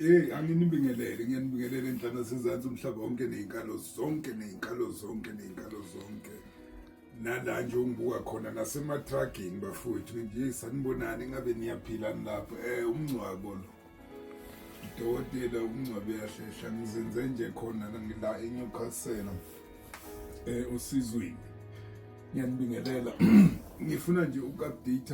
Eh anginibingelele ngiyanibingelela enhlana sezantsi umhlaba wonke nezinkalo zonke nezinkalo zonke nezinkalo zonke nala nje ungibuka khona nasematruckini bafowethu nje sanibonani ngabe niyaphila nilapho eh umngcwabo lo udokotela umngcwabe yahlehla ngizenze nje khona ngila eNewcastle eh usizwini ngiyanibingelela ngifuna nje uku-update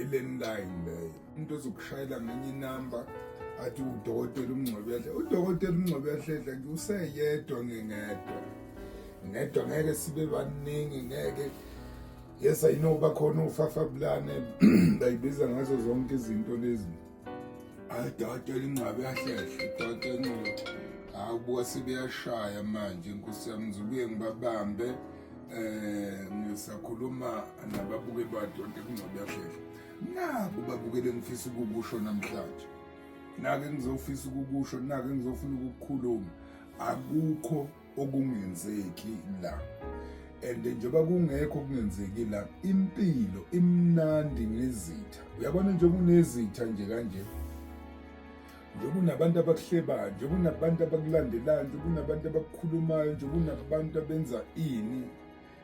ilandline leyo umuntu ozokushayela ngenye inamba athi udokotela umngcwebehle udokotela umngcwebehle useyedwa ngingedwa ngedwa ngeke sibe baningi ngeke yes i know bakhona ufafabulane bayibiza ngazo zonke izinto lezi Adoda elinqabe yahlehle, idoda enqabe. Hawu buka sebeyashaya manje inkosi yami ngizobuye ngibabambe eh ngisakhuluma nababuke badoda elinqabe yahlehle. Naku babukele ngifisa ukukusho namhlanje. Nake ngizofisa ukukusho, nake ngizofuna ukukukhuluma. Akukho okungenzeki la and njengoba kungekho okungenzeki la impilo imnandi ngezitha uyabona nje kunezitha nje kanje nje kunabantu abakuhlebayo nje kunabantu abakulandelayo nje kunabantu abakukhulumayo nje kunabantu abenza ini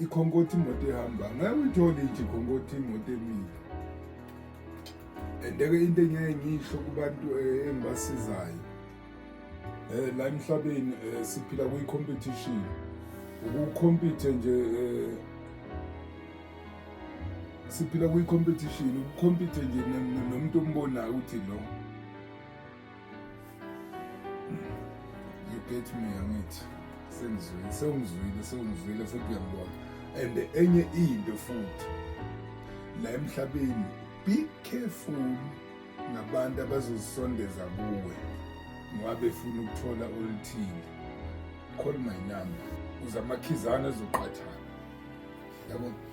ikhonkothi imoto ehamba ngeke uyithole nje ikhonkothi imoto emile endeke into engeke ngisho kubantu eh, engibasizayo eh la emhlabeni eh, siphila kwi competition ukukhompithe nje eh, siphila kwi competition ukukhompithe nje nomuntu ombonayo ukuthi lo you get me angithi sengizwile sewungizwile sewungizwile futhi uyangibona and enye into futhi la emhlabeni be careful nabantu abazozisondeza kuwe ngoba befuna ukuthola oluthile call my number uze amakhizana ezoqathana yabona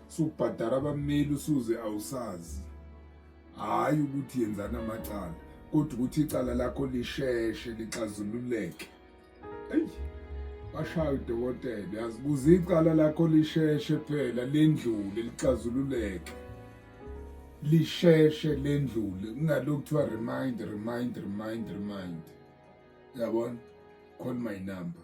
subhadara abameli usuze awusazi hayi ukuthi yenzana amacala kodwa ukuthi icala lakho lisheshe lixazululeke eyi bashaya udokotela yazi kuze icala lakho lisheshe phela lendlule lixazululeke lisheshe lendlule kungalokhu kuthiwa remind remind remind remind yabona call my number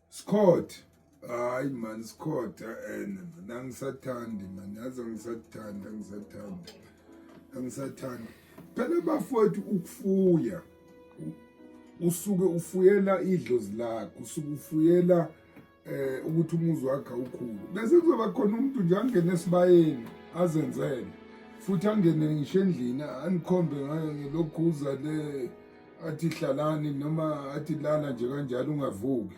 Scott hayi man Scott and eh, man angisathandi man yazi angisathandi angisathandi angisathandi phela bafowethu ukufuya usuke ufuyela idlozi lakho usuke ufuyela eh ukuthi umuzi wakhe ukhulu bese kuzoba khona umuntu nje angene esibayeni azenzele futhi angene ngisho endlini anikhombe ngayo ngelokhuza le athi hlalani noma athi lala nje kanjalo ungavuki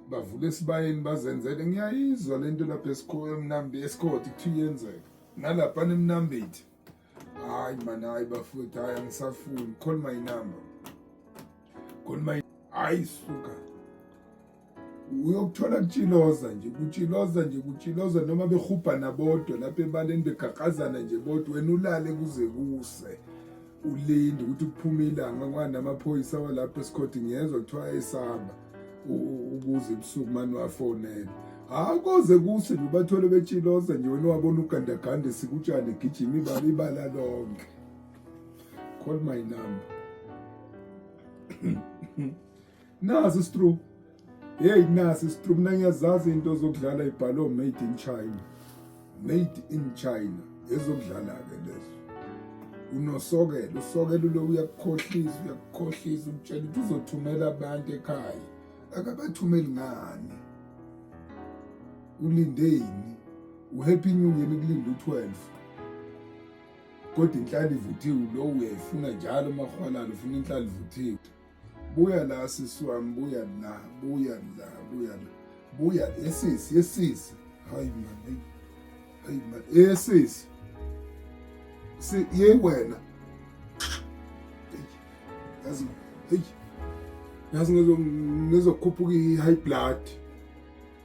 bavule esibayeni bazenzele ngiyayizwa le nto lapha esikhoyo emnambi esikhodi kuthiwa iyenzeka nalapha nemnambithi hayi mani hayi bafowethu hayi angisafuni call my number call my hayi suka uyokuthola kutshiloza nje kutshiloza nje kutshiloza noma behubhana bodwa lapha ebaleni begaqazana nje bodwa wena ulale kuze kuse ulinde ukuthi kuphume ilanga kwani amaphoyisa walapho esikhodi ngiyezwa kuthiwa esaba ukuze ebusuku mani wafonele hawu koze kuse nje ubathole betshiloza nje wena wabona ugandaganda esikutshane egijima ibala ibala lonke call my number Nazi istrop. Hey nasi istrop mina ngiyazazi into zokudlala ibhalo made in China. Made in China. Ezokudlala ke lezo. Unosokelo, usokelo lo uyakukhohlisa, uyakukhohlisa ukutshela ukuthi uzothumela abantu ekhaya. Akabathumeli ngani? Ulindeni? uhappy new year kulinda u-12 kodwa inhlala ivuthiwe lo uyayifuna njalo umahwalala ufuna inhlala ivuthiwe buya la sisi wami buya la buya la buya la buya esisi esisi hayi mani hayi mani esisi si ye wena yazi hey yazi ngizokhuphuka i-high blood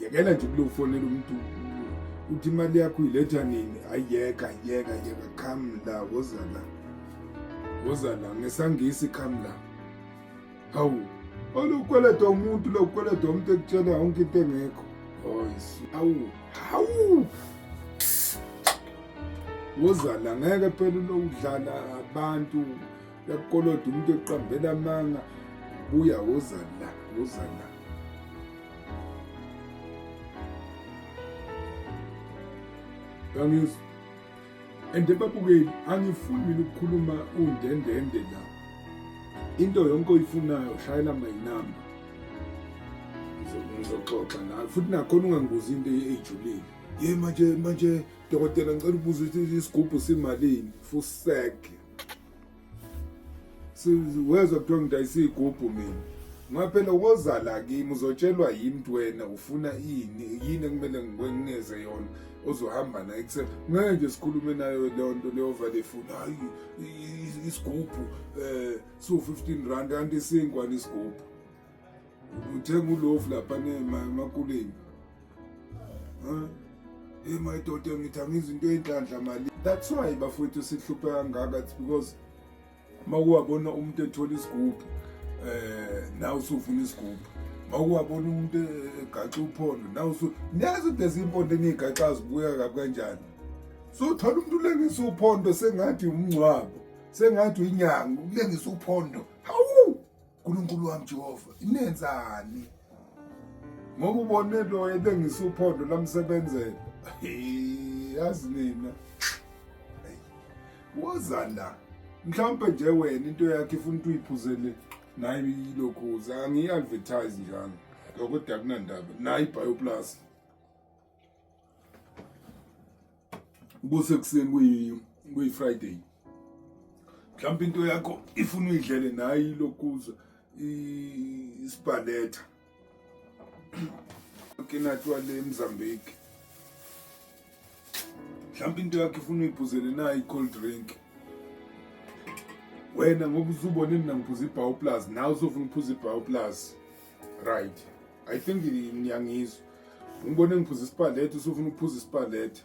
yekela nje kulofonela umuntu uthi imali yakho uyiletha nini ayiyeka yeka yeka come la woza la woza la ngesangisi come la hawu olukweleda umuntu lokweleda umuntu ekutshela yonke into engekho oyisi hawu hawu woza la ngeke phela ulokudlala abantu yakukoloda umuntu eqambela amanga buya woza la woza la angizwa and babukeli angifuni mina ukukhuluma undendende la into yonke oyifunayo shayela my number ngizoxoxa nawe futhi nakhona ungangibuza into eyijulile ye manje manje dokotela ngicela ubuza ukuthi isigubhu simalini fuseke wezwa kuthiwa ngidayisa iy'gubhu mina ngaphela wozala kimi uzotshelwa yimi nti wena ufuna yini yini ekumele ngikwenikeze yona ozohamba naye kuse ngeke nje sikhulume nayo leyo nto leyovale ifuna hayi isigubhu um eh, siwu-fifteen rand kanti isinkwane isigubhu uthenga ulofu lapha nemakuleni hey my daughter ngithi angizi into eyinhlanhla mali that's why bafowethu sihluphe kangaka it's because uma kuwabona umuntu ethola isigubhu um nawe usufuna isigubhu uma kuwabona umuntu egaxa uphondo nawe usu niyazi ukuthi eziyimpondo eniyigaxa zibuya kabi kanjani so uthola umuntu ulengisa uphondo sengathi umngcwabo sengathi uyinyanga ukulengisa uphondo hawu Nkulunkulu wami Jehova inenzani ngoba ubone lo ebengisa uphondo lamsebenzela yazi nina woza la mhlawumpe nje wena into yakhe ifuna ukuthi uyiphuzele naye ilokhuza angiyi-advertise njalo lokho dakunandaba nayi ibioplus kusekuseni kuyi kuyi Friday mhlawumbe into yakho ifuna uyidlele nayi lokuza isibhaletha kinatwa le Mozambique mhlawumbe into yakho ifuna uyiphuzele nayi cold drink wena ngoba uzubona mina ngiphuza ibhawu plus nawe uzofuna ukuphuza ibhawu plus right i think ngiyangizwa ngibone ngiphuza isipalethi usufuna ukuphuza isipalethi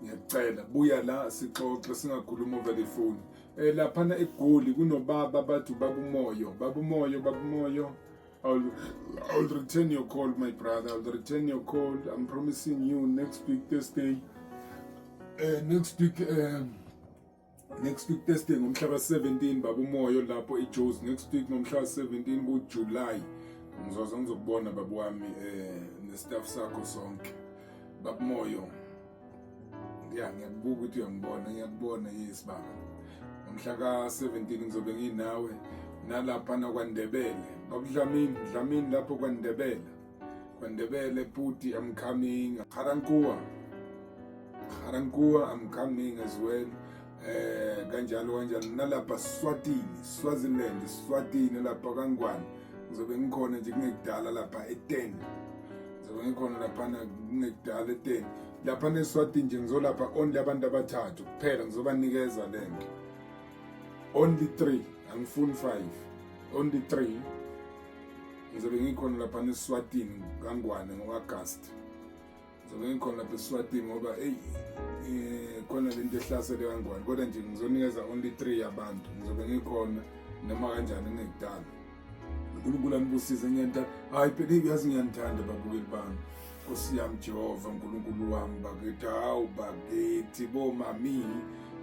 ngiyacela buya la sixoxe singakhuluma over the phone eh laphana egoli kunobaba abathi babumoyo babumoyo babumoyo I'll, I'll return your call my brother I'll return your call I'm promising you next week Thursday uh, next week um, next week testing ngomhlaba 17 baba umoyo lapho eJoes next week ngomhlaba 17 ku July ngizoze ngizokubona baba wami eh nestaff sakho sonke baba moyo ya ngiyakubuka ukuthi uyangibona ngiyakubona yes baba ngomhla ka 17 ngizobe nginawe nalapha nakwandebele babudlamini dlamini lapho kwandebele Kwandebele Puti, I'm coming. Garankua. Garankua, I'm coming as well. Eh kanjalo kanjalo nalapha Swatini, Swaziland, Swatini lapha kangwane. Ngizobe ngikhona nje kungekudala lapha e10. Ngizobe ngikhona lapha kungekudala e10. Lapha neSwatini nje ngizolapha only abantu abathathu kuphela ngizobanikeza lento. Only 3, angifuni 5. Only 3. ngizobe ngikhona lapha neswatini kangwane ngo-agast ngizobe ngikhona lapha eswatini ngoba eyi eh, khona le nto ehlasele kangwane kodwa nje ngizonikeza only three yabantu ngizobe ngikhona noma kanjani ngekudala unkulunkulu anibusise ngiyanithanda hhayi phela iyazi ngiyanithanda babukeli bami nkosi yami jehova nkulunkulu wami bakithi hawu bakithi bomami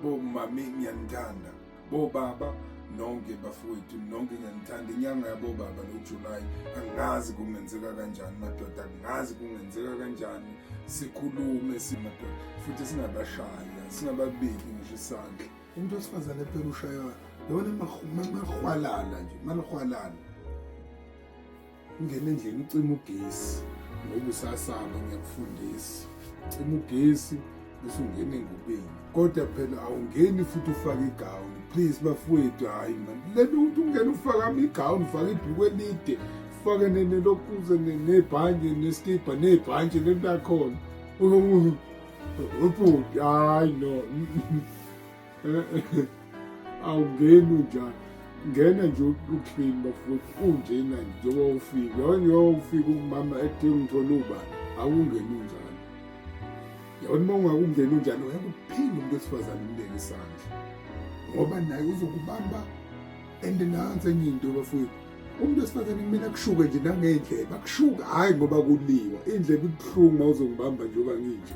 bomami ngiyanithanda bobaba nonke bafowethu nonke ngiyanithanda inyanga yabobaba lojulayi angazi kungenzeka kanjani madoda angazi kungenzeka kanjani sikhulume simadoda futhi singabashaya singababiki ngisho isandla umuntu wesifazane phela ushaywa lona mahwalala nje malihwalala Ungena endlini ucima ugesi ngoba usasaba ngiyakufundisa. Cima ugesi bese ungena engubeni. Kodwa phela awungeni futhi ufake igawuni. Please bafowethu hayi man. Lento ukuthi ungena ufake ama igawuni, ufake ibhuku elide, ufake nelokuze nebhanje nesikibha nebhanje lento yakhona. Ubhuti hayi no. awungeni unjani ngena nje uklini bafuthi unjena njengoba ufike yonyoba ufike umama ethe ngithole uba awungeni unjani yabona uma ungakungeni unjani uyakuphila umuntu wesifazane umleke isandla ngoba naye uzokubamba and nansi enye into bafuthi umuntu wesifazane kumele akushuke nje nangendlebe akushuke hhayi ngoba kuliwa indlebe ibuhlungu uma uzongibamba njengoba nginje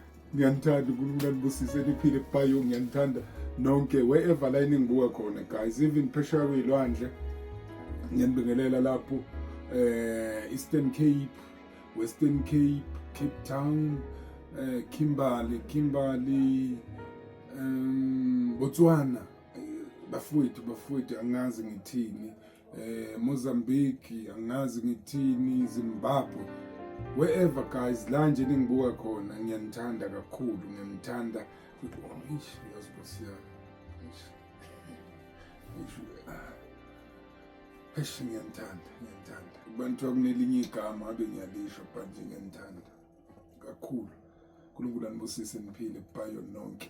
ngiyanithanda unkulunkulu anibusise niphile kubayo ngiyanithanda nonke wherever la eningibuka khona guys even phesheya kuyilwandle ngiyanibingelela lapho eh Eastern Cape Western Cape Cape Town eh Kimberley Kimberley um Botswana bafowethu bafowethu angazi ngithini eh, Mozambique, angazi ngithini, Zimbabwe, wherever guys, la nje ningibuka khona, ngiyanithanda kakhulu, ngiyanithanda. Eish, yazi Nkosi yami. Eish. Eish. Eish, ngiyanithanda, ngiyanithanda. Abantu akunelinye igama abe ngiyalisho but nje ngiyanithanda kakhulu. uNkulunkulu anibusise niphile bayo nonke.